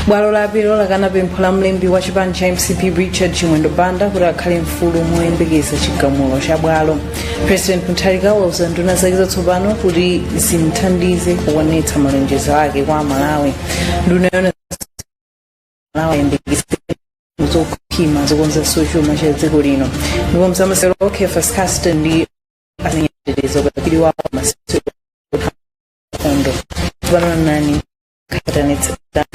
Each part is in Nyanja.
bwalo la apilo lakana pempho la mlembi wa chipani cha mcp richard chimwendo banda kuti akhale mfulu moyembekeza chigamulo cha bwalo president mutharika wauza nduna zake zatsopano kuti zimthandize kukwaniritsa malonjezo ake kwa amalawi nduna yauza amalawi ayembekeze zokhwima zokonzanso chuma cha dziko lino ndipo m'zamasewero kefas casten ndi azenyeterezo pakili wawo masitso nkhondo tsopano nazi mwatsatanetsatane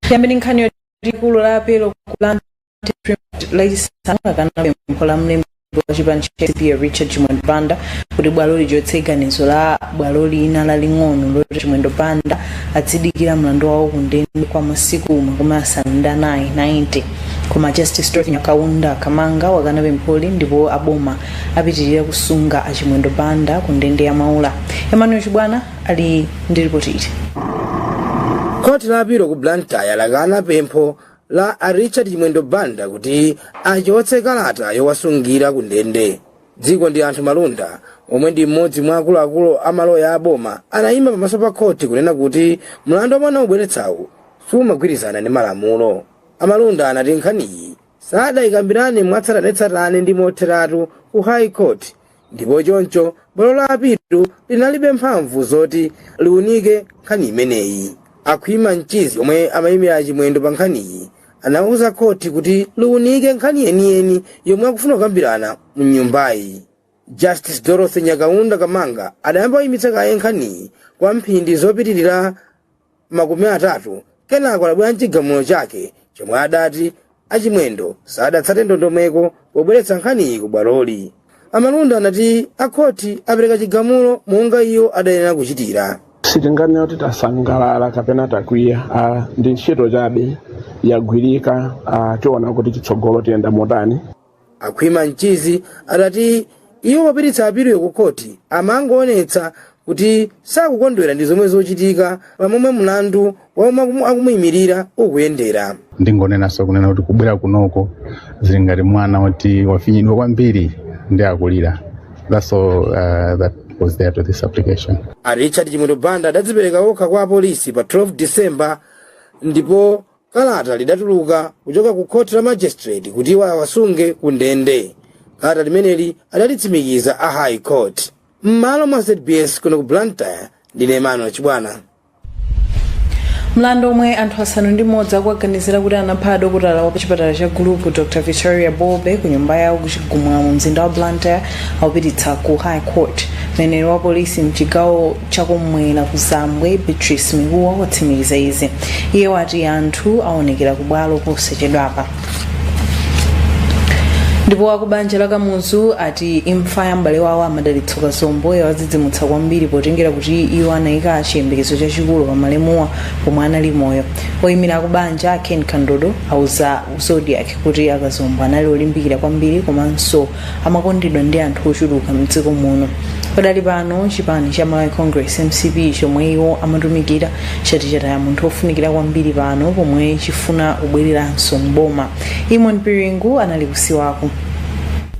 tiyambe ndi nkhani yoti bwalo lalikulu la apilo ku blantyre lachisanu lakana pempho la mlembi wa chipani cha mcp richard chimwendo banda kuti bwalo lichotse ganizo la bwalo lina laling'ono loti chimwendo banda adzidikira mlandu wawo kundende kwa masiku makumi asanu ndi anayi 90 koma justice dorothy nyakaunda kamanga wakana pempholi ndipo aboma apitiriza kusunga a Chimwendo Banda ku ndende ya Maula. Emmanuel Chibwana ali ndi ripoti ili. Khoti la apilo ku Blantyre lakana pempho la a Richard Chimwendo Banda kuti achotse kalata yowasungira ku ndende. Dzikondianthu Malunda omwe ndi mmodzi mwa akuluakulu a maloya a boma anayima pamaso pa khoti kunena kuti mlandu omwe anaubweretsawu siumagwirizana ndi malamulo. A Malunda anati nkhaniyi sadayikambirane mwatsatanetsatane ndi motheratu ku high court ndipo choncho bwalo la apilo linalibe mphamvu zoti liunike nkhani imeneyi a khwima mchizi omwe amayimira a chimwendo pa nkhaniyi anauza khoti kuti liunike nkhani yeniyeni yomwe akufuna kukambirana mu nyumbayi justice dorothy nyakaunda kamanga adayamba kuyimitsa kaye nkhaniyi kwa mphindi zopitirira makumi atatu kenako adabwera n'chigamulo chake chomwe adati a chimwendo sadatsate ndondomeko pobweretsa nkhaniyi ku bwaloli a malunda anati akhoti apereka chigamulo monga iwo adayenera kuchitira sitinganena kuti tasangalala kapena takwiya ah, ndi ntchito chabe yagwirika ah, tiona kuti chitsogolo tiyenda motani A Khwima Mchizi adati iwo popititsa apiloyo ku khoti amangoonetsa kuti sakukondwera ndi zomwe zikuchitika pa momwe mlandu wa omwe akumuyimirira ukuyendera. ndingonenanso kunena kuti kubwera kunoko zili ngati mwana woti wafinyidwa kwambiri ndi akulira that's all uh, that was there to this application a richard chimwendo banda adadzipereka okha kwa apolisi pa 12 december ndipo Kalata lidatuluka kuchoka ku khoti la magistrate kuti iwo awasunge ku ndende. Kalata limeneli adalitsimikiza a High Court. M'malo mwa ZBS kuno ku Blantyre ndine Emmanuel Chibwana. mlandu omwe anthu asanu ndi mmodzi akuwaganizira kuti anapha adokotala wa pachipatala cha gulupu dr victoria bobe ku nyumba yawo ku chigumula mu mzinda wa blantyre aupititsa ku high court mneneri wa polisi mchigawo chakummwera kuzambwe beatrice mikuwa watsimikiza izi iye wati anthu awa aonekera kubwalo posachedwapa ndipo akubanja la kamuzu ati imfa ya m'bale wawo amadalitso kazombo yawadzidzimutsa kwambiri potengera kuti iwo anayika chiyembekezo chachikulu pa malemuwa pomwe anali moyo oyimira akubanja ken kandodo auza zodiak kuti akazombo anali olimbikira kwambiri komanso amakondedwa ndi anthu ochuluka mdziko muno padali pano chipani cha malawi congress mcp chomwe iwo amatumikira chati chataya munthu ofunikira kwambiri pano pomwe chifuna kubwereranso mboma eamon piringu anali kusiwako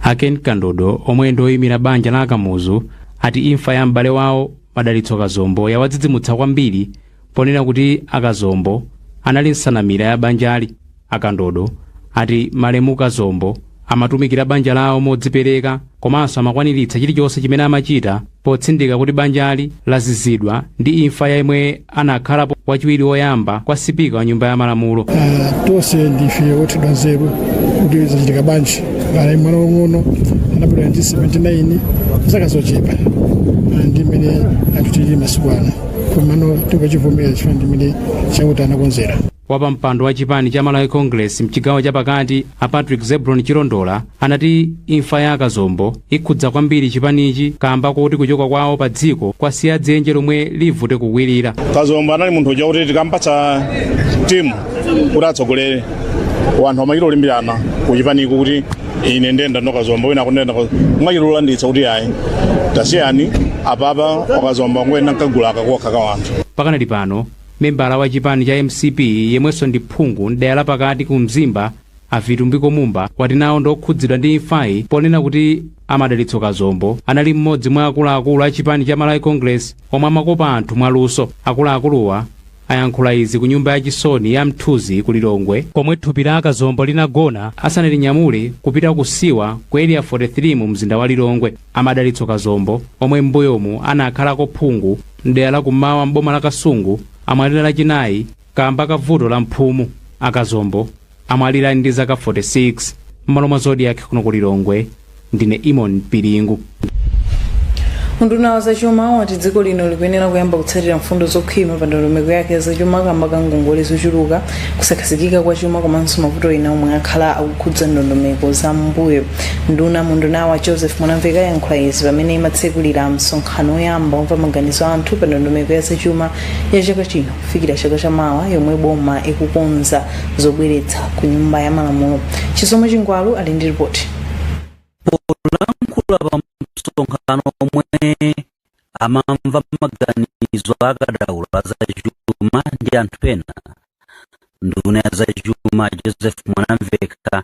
aken kandodo omwe ndi oyimira banja la akamuzu ati imfa ya m'bale wawo madalitso kazombo yawadzidzimutsa kwambiri ponena kuti akazombo anali nsanamira ya banjali A Kandodo ati malemu Kazombo amatumikira banja lawo modzipereka komanso amakwaniritsa chilichonse chimene amachita potsindika kuti banjali lazizidwa ndi imfa ya yemwe anakhalapo wachiwiri woyamba kwa sipika wa nyumba ya malamulo. Ah, tonse ndife othedwa nzeru kuti zachitika bwanji anali mwana wang'ono anabadwa mu 79 zaka zochepa Ah, ndi mmene anthu tili masiku ano komano tingachivomera chifukwa ndi mmene chauta anakonzera Wapampando wa chipani cha Malawi Congress mchigawo chapakati a Patrick Zebron Chilondola anati imfa ya a Kazombo ikhudza kwambiri chipanichi kamba koti kuchoka kwawo pa dziko kwasiya dzenje lomwe livute kukwirira. Kazombo anali munthu uja kuti tikampatsa timu kuti atsogolere wanthu amachita olimbirana ku chipaniku kuti ine ndenda no Kazombo wina akundenda mwachita olanditsa kuti ayi tasiyani apapa a Kazombo ngoyenda nkagulu kakokha ka wanthu pakanali pano Membala wa chipani cha mcp yemwenso ndi phungu m'dera la pakati ku Mzimba a Vitumbiko Mumba wati nawo ndi okhudzidwa ndi imfayi ponena kuti a Madalitso Kazombo anali mmodzi mwa akuluakulu a chipani cha Malawi Congress omwe amakopa anthu mwaluso. Akuluakuluwa ayankhula izi ku nyumba ya chisoni ya Mthuzi ku Lilongwe komwe thupi la a Kazombo linagona asanalinyamule kupita ku siwa ku Area 43 mu mzinda wa Lilongwe. A Madalitso Kazombo, omwe m'mbuyomu anakhalako phungu m'dera la kummawa m'boma la Kasungu, amwalira Lachinayi kaamba ka vuto la mphumu. A Kazombo amwalira ndi zaka 46. M'malo mwa Zodiak kuno ku Lilongwe, ndine Eamon Piringu. Unduna wa zachuma wati dziko lino likuyenera kuyamba kutsatira mfundo zokhwima pa ndondomeko yake zachuma kamba ka ngongole zochuluka kusakhazikika kwa chuma komanso mavuto ena omwe akhala akukhudza ndondomeko za mbuyo nduna mundunawa joseph mwanamveka yankhula izi pamene imatsekulira msonkhano woyamba womva maganizo a anthu pa ndondomeko ya zachuma ya chaka chino kufikira chaka cha mawa yomwe boma ikukonza zobweretsa ku nyumba ya malamulo chisomo chingwalu ali ndi ripoti polankhula pa msonkhano omwe amamva maganizo a akadaulo a zachuma ndi anthu ena. Nduna ya zachuma Joseph Mwanamveka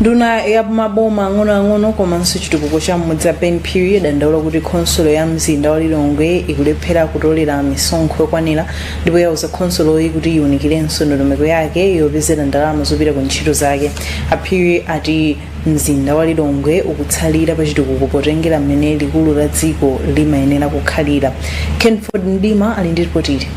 nduna ya maboma ang'onoang'ono komanso chitukuko cha m'mudzi a ben phiri yadandaula kuti khonsolo ya mzinda wa lilongwe ikulephera kutolera misonkho yokwanira ndipo yauza khonsoloyi kuti iwunikirenso ndondomeko yake yopezera ndalama zopita ku ntchito zake A Phiri ati Mzinda wa Lilongwe ukutsalira pachitukuko potengera mmene likulu la dziko limayenera kukhalira. Kenford Mdima ali ndi ripoti ili.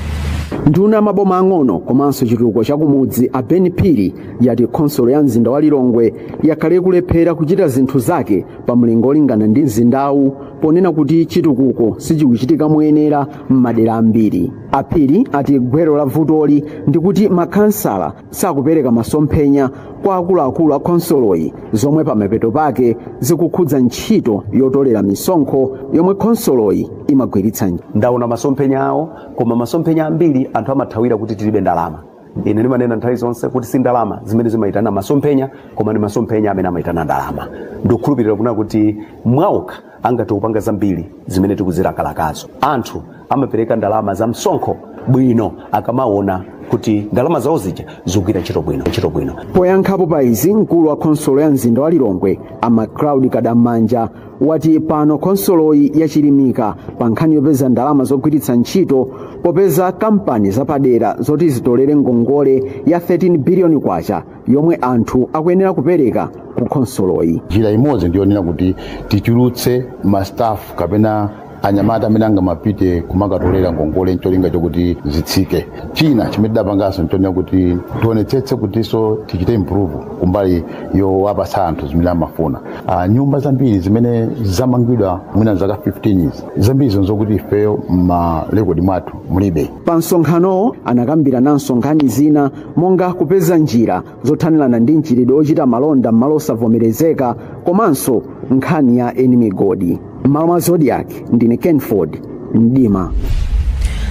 Nduna ya maboma ang'ono komanso chitukuko cha kumudzi a Ben Phiri yati khonsolo ya mzinda wa Lilongwe yakhala ikulephera kuchita zinthu zake pa mlingo olingana ndi mzindawu ponena kuti chitukuko sichikuchitika moyenera m'madera ambiri. A Phiri ati gwero la vutoli ndi kuti makhansala sakupereka masomphenya kwa akuluakulu a khonsoloyi zomwe pamapeto pake zikukhudza ntchito yotolera misonkho yomwe khonsoloyi imagwiritsa ntchito ndaona masomphenya awo koma masomphenya ambiri anthu amathawira kuti tilibe ndalama ine ndimanena nthawi zonse kuti si ndalama zimene zimayitana masomphenya koma ndi masomphenya amene amayitana ndalama ndikukhulupirira kunena kuti mwaokha angathe kupanga zambiri zimene tikuzilakalakazo anthu amapereka ndalama za msonkho bwino akamaona kuti ndalama zawo zija zikugwira ntchito bwino ntchito bwino poyankhapo pa izi mkulu wa khonsolo ya mzinda wa lilongwe a Macloud Kadam'manja wati pano khonsoloyi yachilimika pa nkhani yopeza ndalama zogwiritsa ntchito popeza kampani zapadera zoti zitolere ngongole ya 13 biliyoni kwacha yomwe anthu akuyenera kupereka ku khonsoloyi njira imodzi ndiyonena kuti tichulutse mastaff kapena anyamata amene angamapite kumakatolera ngongole ncholinga chokuti zitsike china chimene tidapanganso nchonena kuti tionetsetse kutinso tichite improve kumbali yowapatsa anthu zimene amafuna uh, nyumba zambiri zimene zamangidwa mwina zaka 15 izi zambiri nzokuti ifeyo m'malekodi mwathu mulibe pa msonkhanowo anakambirananso nkhani zina monga kupeza njira zothanirana ndi mchitidwe ochita malonda m'malo osavomerezeka komanso nkhani ya eni migodi m'malo mwa zodiac ndine kenford mdima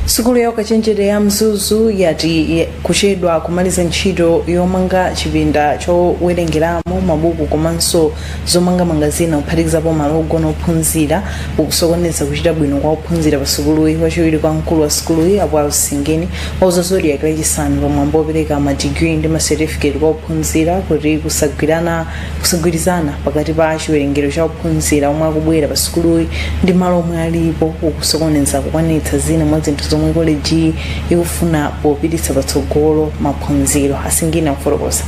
sukulu ya ukachenjede ya mzuzu yati kuchedwa kumaliza ntchito yomanga chipinda chowerengeramo mabuku komanso zomangamanga zina kuphatikizapo malo ogona ophunzira ukusokoneza kuchita bwino kwa ophunzira pa sukuluyi wachiwiri kwa mkulu wa sukuluyi a Wales Singini wauza zodiak lachisanu pa mwambo wopereka madigiri ndi masetifiketi kwa ophunzira kuti kusagwirana kusagwirizana pakati pa chiwerengero cha ophunzira omwe akubwera pa sukuluyi ndi malo omwe alipo ukusokoneza kukwanitsa zina mwa zinthu zomwe kolejiyi ikufuna popititsa patsogolo maphunziro a Singini akufotokoza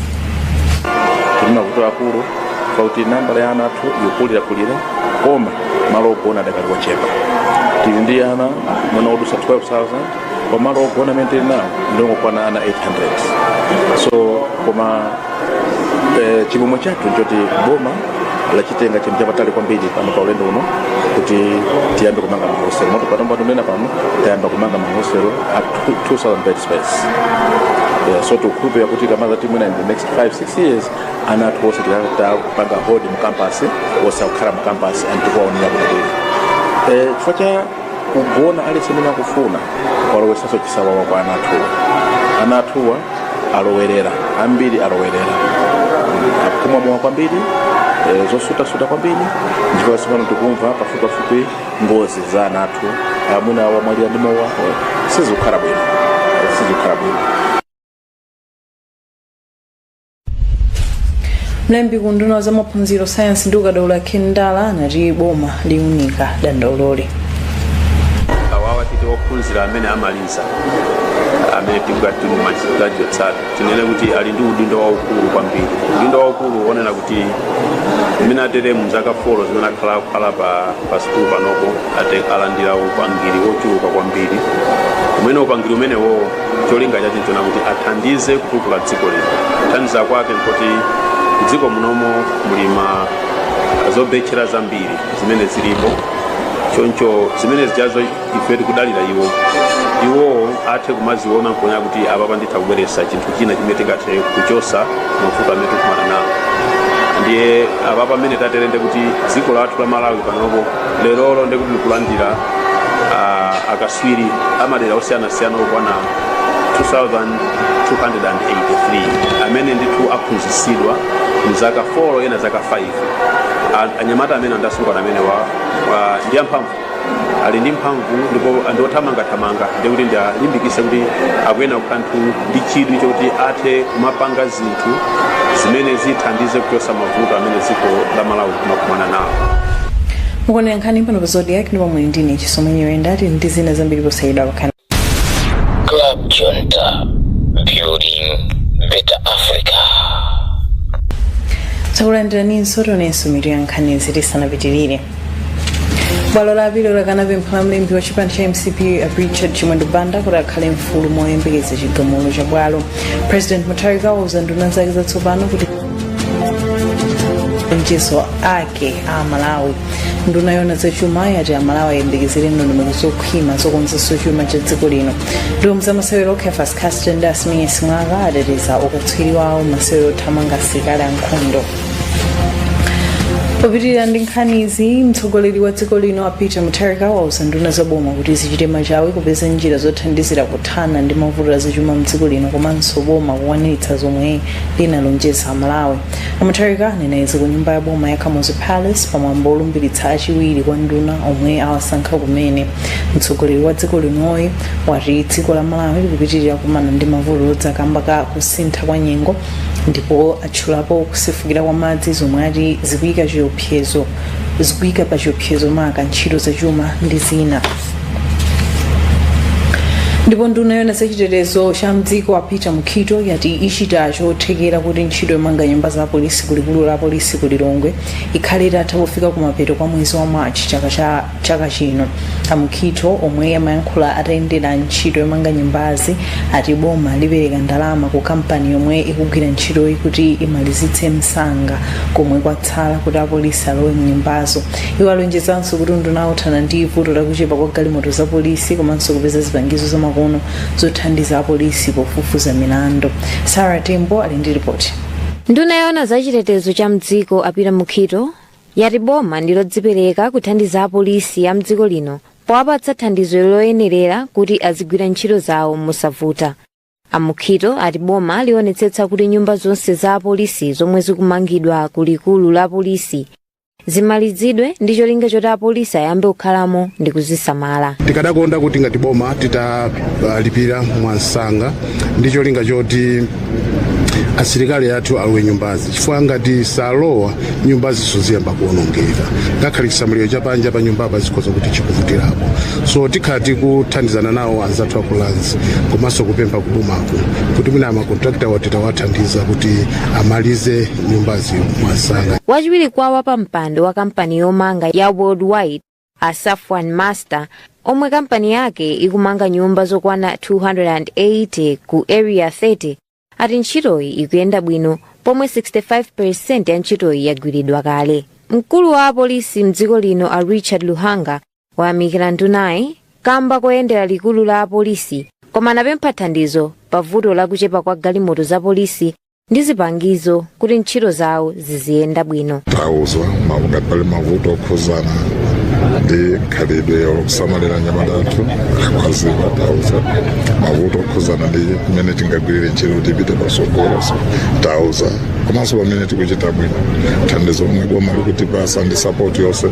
tili ndi mavuto akulu pakuti nambala ya ana athu ikukulirakulira koma malo ogona adakali ochepa tili ndi ana mwina odusa 12000 koma malo ogona amene tili nawo ndingokwana ana 800 so koma eh, chimwemwe chathu nchoti boma lachitenga chinthu chapamtima kwambiri pano pa ulendo uno kuti tiyambe kumanga mahostel moti panopa ndikunena pano tayamba kumanga mahostel athu 2000 bed space yeah, so tikukhulupirira kuti kamodza mwina in the next 5 6 years ana athu onse tikuwapanga hold mu campus onse akukhala mu campus and tikuwaonera bwino eh, chifukwa cha kugona aliyense mmene akufunira kwalowesanso chisawawa kwa ana athuwa ana athuwa alowerera ambiri alowerera akumwa mowa kwambiri eh, zosutasuta kwambiri ndipo tsopano tikumva pafupipafupi ngozi za ana athu ah, mwina wamwalira ndi mowa eh, sizikukhala bwino Eh, sizikukhala bwino mlembi ku unduna wa za maphunziro sayansi ndi ukadaulo a ken ndala anati boma liunika dandauloli awawa titi ophunzira amene amaliza amene tingati magraduates tinene kuti ali ndi udindo waukulu kwambiri udindo waukulu wonena kuti mmene atere mzaka folo zimene akhala akukhala pa, pa sikulu panopo ate alandira upangiri wochuluka kwambiri umene upangiri umenewo cholinga chake chonena kuti athandize kutukula dziko lino kuthandiza kwake nkuti dziko munomo muli zobetchera zambiri zimene zilipo choncho zimene zijazo ife tikudalira iwo iwowo athe kumaziona nkuona kuti apapa nditha kubweretsa chinthu china chimene tingathe kuchosa mavuto amene tikukumana nawo ndiye apa pamene tatere ndi kuti dziko lathu la malawi panopo lerolo ndi kuti likulandira ah, akaswiri amadera osiyanasiyana okwana 2283 amene ndithu aphunzitsidwa mu zaka 4 ena zaka 5 A- anyamata amene ndi asungwana amene wa, wa ndi amphamvu ali ndi mphamvu ndipo ndi othamangathamanga ndi kuti ndialimbikise kuti akuyenera kukhala anthu ndi chidwi chokuti athe kumapanga zinthu zimene zithandize kuchosa mavuto amene dziko la malawi limakumana nawo mukuonera nkhani pano pa zodiac ndipo muli ndi ine chisomo nyiwenda tili ndi zina zambiri posachedwapa khalani Club Junta, building better Africa. takulandiraninso tionenso mitu ya nkhanizi tisanapitirire bwalo la apilo lakana pempho la mlembi wa chipani cha mcp richard chimwendo banda kuti akhale mfulu moyembekeza chigamulo cha bwalo president mutharika wauza nduna zake zatsopano kuti mchezo ake a amalawi nduna yona zachuma yati amalawi ayembekezere ndondomeko zokhwima zokonzanso chuma cha dziko lino ndipo mu za masewero a kefasi kasteni ndi asimenye simwaka ateteza ukatswiri wawo mmasewero othamanga asilikali ankhondo popitirira ndi nkhanizi mtsogoleri wa dziko lino a peter mutharika wauza nduna za boma kuti zichite machawi kupeza njira zothandizira kuthana ndi mavuto azachuma mdziko lino komanso boma kukwaniritsa zomwe linalonjeza amalawi amutharika anena izi ku nyumba ya boma ya kamuzu palace pamwambo olumbiritsa achiwiri kwa nduna omwe awasankha kumene mtsogoleri wa dziko linoyi wati dziko la malawi likupitirira kumana ndi mavuto odza kamba ka kusintha kwa nyengo ndipo atchulapo kusefukira kwa madzi zomwe ati zikuyika chiopsezo zikuyika pa chiopsezo maka ntchito zachuma ndi zina ndipo nduna yona zachitetezo cha mdziko a peter mukhito yati ichita chothekera kuti ntchito yomanga nyumba za polisi kulikulu la polisi ku lilongwe ikhale itatha pofika kumapeto kwa mwezi wa march chaka chino amukhito omwe amayankhula atayendera ntchito yomanga nyumbazi ati boma lipereka ndalama ku kampani yomwe ikugwira ntchitoyi kuti imalizitse msanga komwe kwatsala kuti apolisi alowe mnyumbazo iwo alonjezanso kuti unduna wawo uthana ndi vuto lakuchepa kwa galimoto za polisi komanso kupeza zipangizo zamakono zothandiza apolisi pofufuza milandu sarah tembo ali ndi ripoti nduna yoona za chitetezo cha mdziko a peter mukhito yati boma ndilodzipereka kuthandiza apolisi a mdziko lino powapatsa thandizo loyenerera kuti azigwira ntchito zawo mosavuta a mukhito ati boma lionetsetsa kuti nyumba zonse za apolisi zomwe zikumangidwa ku likulu la polisi zimalizidwe ndi cholinga choti apolisi ayambe kukhalamo ndi kuzisamala tikadakonda kuti ngati boma titalipira mwamsanga ndi cholinga choti asilikali athu alowe mnyumbazi chifukwa ngati salowa nyumbazi ziziyamba kuonongeka ngakhale chisamaliro cha panja pa nyumbapa zikhala kuti chikuvutirapo so tikhala tikuthandizana nawo anzathu a ku lands komanso kupempha kubomako kuti mwina makontrakitawa titawathandiza kuti amalize nyumbazi mwamsanga wachiwiri kwa wapampando wa kampani yomanga ya worldwide a safwan master omwe kampani yake ikumanga nyumba zokwana 280 ku area 30 ati ntchitoyi ikuyenda bwino pomwe 65% ya ntchitoyi yagwiridwa kale mkulu wa apolisi mdziko lino a richard luhanga wayamikira ndunayi kamba koyendera likulu la apolisi koma anapempha thandizo pa vuto lakuchepa kwa galimoto za polisi ndi zipangizo kuti ntchito zawo ziziyenda bwino tauza ngati pali mavuto okhuzana ndi mkhalidwe wosamalira anyamata athu akwaziwa tauza mavuto okhuzana ndi mmene tingagwirire ntchito kuti ipite patsogolo tauza komanso pamene tikuchita bwino thandizo lomwe boma likutipasa ndi sapoti yonse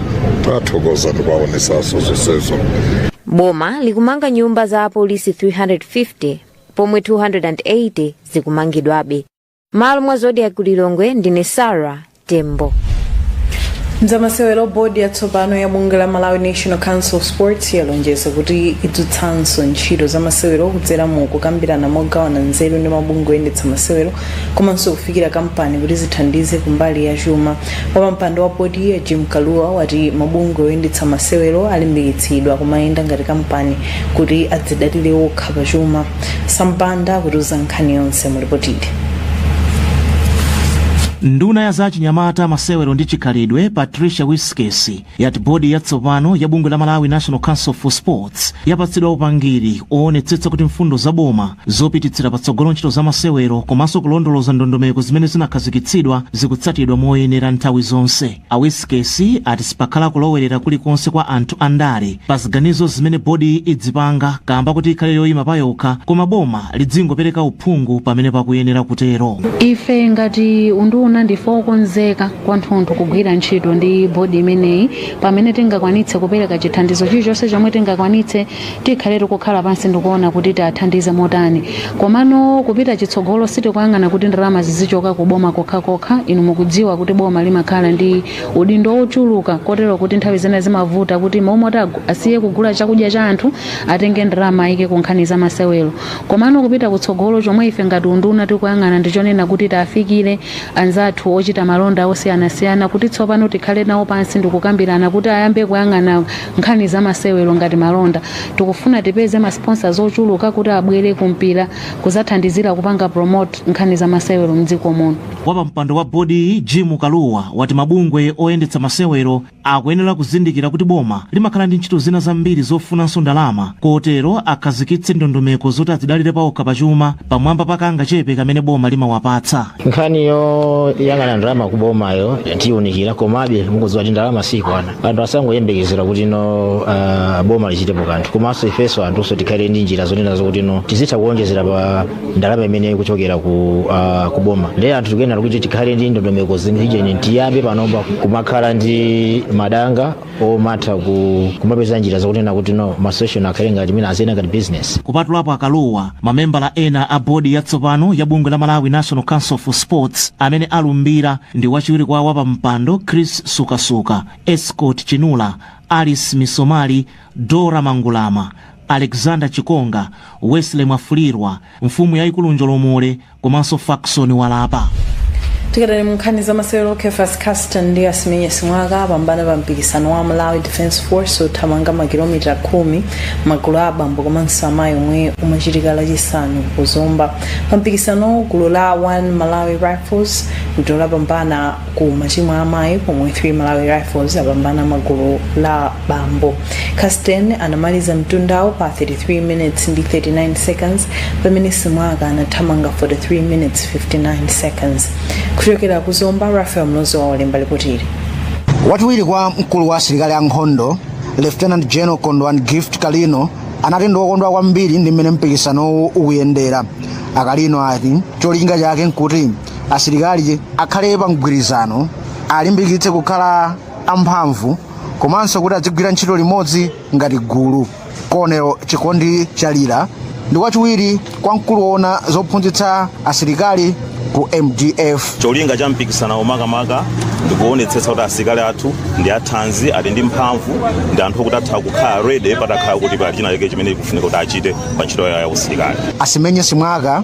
tathokoza ndikuwaonesanso zonsezo boma likumanga nyumba za apolisi 350 pomwe 280 zikumangidwabe malo mwa zodiac ku lilongwe ndine sarah tembo mzamasewero bodi yatsopano ya bungwe la malawi national council of sports yalonjeza kuti idzutsanso ntchito za masewero kudzera mu kukambirana mogawana nzeru ndi mabungwe oyendetsa masewero komanso kufikira kampani kuti zithandize kumbali ya chuma wapampando wa bodiyi jim kaluwa wati mabungwe oyendetsa masewero alimbikitsidwa kumayenda ngati kampani kuti adzidalire okha pa chuma sam banda akutiuza nkhani yonse mu lipoti ili nduna ya za chinyamata masewero ndi chikhalidwe patricia wiskesi yati bodi yatsopano ya bungwe la malawi national council for sports yapatsidwa upangiri oonetsetsa kuti mfundo za boma zopititsira patsogolo ntchito za masewero komanso kulondoloza ndondomeko zimene zinakhazikitsidwa zikutsatidwa moyenera nthawi zonse A Wiskesi ati sipakhala kulowerera kulikonse kwa anthu a ndale pa ziganizo zimene bodiyi idzipanga kaamba kuti ikhale yoyima payokha koma boma lidzingopereka uphungu pamene pakuyenera kutero. Ife ngati unduna ndife okonzeka kwathunthu kugwira ntchito ndi bodi imeneyi pamene tingakwanitse kupereka chithandizo chilichonse chomwe tingakwanitse tikhale tikukhala pansi ndikuona kuti tiathandize motani komano kupita chitsogolo sitikuyang'ana kuti ndalama zizichoka ku boma kokha inu mukudziwa kuti boma limakhala ndi udindo wochuluka kotero kuti nthawi zina zimavuta kuti momoti agu- asiye kugula chakudya cha anthu atenge ndalama ayike ku nkhani za masewero komano kupita kutsogolo chomwe ife ngati unduna tikuyang'ana ndichonena kuti tiafikire anzathu ochita malonda osiyanasiyana kuti tsopano tikhale nawo pansi ndikukambirana kuti ayambe kuyang'ana nkhani za masewero ngati malonda tikufuna tipeze ma sponsors ochuluka kuti abwere ku mpira kuzathandizira kupanga promote nkhani za masewero mdziko muno wapampando wa bodiyi jim kaluwa wati mabungwe oyendetsa masewero akuyenera kuzindikira kuti boma limakhala ndi ntchito zina zambiri zofunanso ndalama kotero akhazikitse ndondomeko zoti adzidalire paokha pachuma pamwamba pa kangachepe kamene boma limawapatsa nkhani yoyang'ana ndalama kubomayo tiyiunikira komabe mukudziwa kuti ndalama sikwana anthu asangoyembekezera kuti no uh, boma lichitepo kanthu komanso ifenso anthuso tikhale ndi njira zonena zokuti no tizitha kuonjezera pa ndalama imene ikuchokera ku, uh, ku boma ndiye anthu tikuyenera kuti tikhale ndi ndondomeko ziujeni tiyambe panopa kumakhala ndi madanga omatha kumapeza njira zakunena kuti no ma association akhale ngati mwina aziyenda ngati business kupatulapo a kalua mamembala ena a bodi yatsopano ya bungwe la malawi national council for sports amene alumbira ndi wachiwiri kwa wapampando chris sukasuka escort chinula alice misomali dora mangulama alexander chikonga wesley mwafulirwa mfumu yayikulu njolomole komanso faxon walapa tikadali munkhani za masewero kefas kasten ndi asimenye simwaka apambana pa mpikisano wa malawi defence force othamanga makilomita khumi magulu a abambo komanso amayi omwe umachitika lachisanu ku zomba pa mpikisano gulu la 1 malawi rifles ndilo lapambana ku matimu a amayi pomwe 3 malawi rifles apambana pa gulu la bambo kasten anamaliza mtundawo pa 33 minutes ndi 39 seconds pamene simwaka anathamanga 43 minutes 59 seconds kuchokera ku zomba rafael mlozowa walemba lipotili wachiwiri kwa mkulu wa asilikali a nkhondo lieutenant general kondwan gift kalino anati ndi wokondwa kwambiri ndi mmene mpikisanowu ukuyendera a kalino ati cholinga chake nkuti asilikali akhale pa mgwirizano alimbikitse kukhala amphamvu komanso kuti adzigwira ntchito limodzi ngati gulu colonel chikondi chalira ndi wachiwiri kwa mkulu woona zophunzitsa asilikali ku mdf cholinga cha mpikisanawo makamaka ndikuonetsetsa kuti asilikali athu ndi athanzi ali ndi mphamvu ndi anthu okuti atha kukhala ready patakhala kuti pali china chake chimene chikufunika kuti achite pa ntchito yawo ya usilikali asimenye simwaka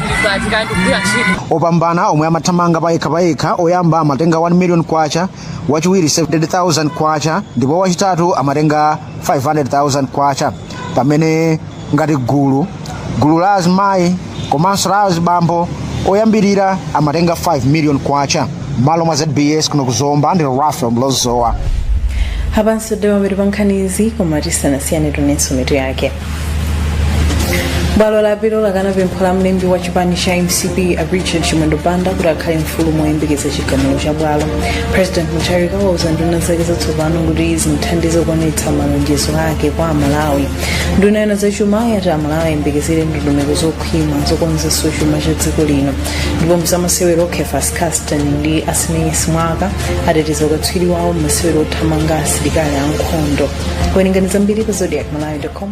opambana omwe amathamanga payekha payekha oyamba amatenga 1 million kwacha wachiwiri 700,000 kwacha ndipo wachitatu amatenga 500,000 kwacha pamene ngati gulu gulu la azimayi komanso la azibambo oyambirira amatenga 5 million kwacha malo mwa zbs kuno kuzomba ndi rafael mlozowa apanso ndi pamathero pa nkhanizi koma tisanasiyane timvenso mitu yake bwalo la apilo lakana pempho la mlembi wa chipani cha mcp a richard chimwendo banda kuti akhale mfulu moyembekeza chigamulo cha bwalo president mutharika wauza nduna zake zatsopano kuti zimuthandize kuonetsa malonjezo ake kwa amalawi nduna yoona zachuma yati amalawi ayembekezere ndondomeko zokhwima zokonzanso chuma cha dziko lino ndipo mzamasewero kefas Kasten ndi Asimenye Simwaka ateteza ukatswiri wawo m'masewero othamanga asilikali ankhondo. Kuwerengani zambiri pa zodiakmalawi.com